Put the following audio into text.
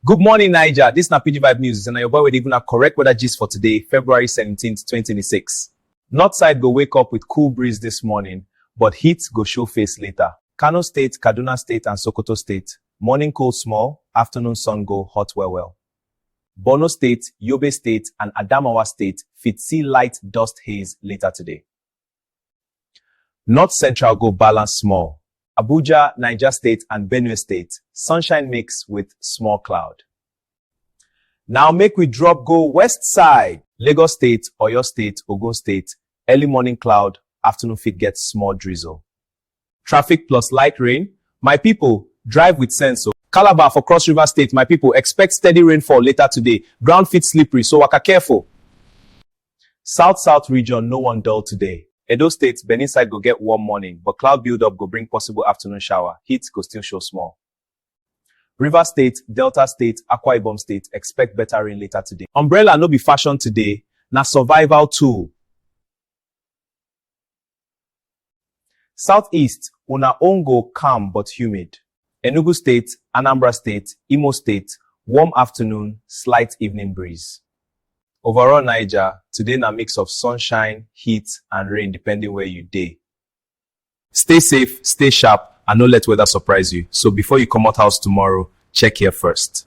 Good morning, Niger. This na PG Vibe News, and na your boy wey dey give una correct weather gist for today, February 17th, 2026. North side go wake up with cool breeze this morning, but heat go show face later. Kano State, Kaduna State, and Sokoto State, morning cold small, afternoon sun go hot well well. Borno State, Yobe State, and Adamawa State fit see light dust haze later today. North Central go balance small. Abuja, Niger State and Benue State, sunshine mix with small cloud. Now make we drop go west side. Lagos State, Oyo State, Ogun State, early morning cloud, afternoon fit get small drizzle. Traffic plus light rain, my people, drive with sense o. Calabar for Cross River State, my people, expect steady rainfall later today, ground fit slippery, so waka careful. South South region no wan dull today. Edo State, Benin side go get warm morning, but cloud build-up go bring possible afternoon shower, heat go still show small. Rivers State, Delta State, Akwa Ibom State, expect better rain later today. Umbrella no be fashion today, na survival tool. South East, Una own go calm but humid. Enugu State, Anambra State, Imo State, Warm afternoon, slight evening breeze. Overall Naija, today na mix of sunshine, heat and rain depending where you dey. Stay safe, stay sharp and no let weather surprise you. So before you comot house tomorrow, check here first.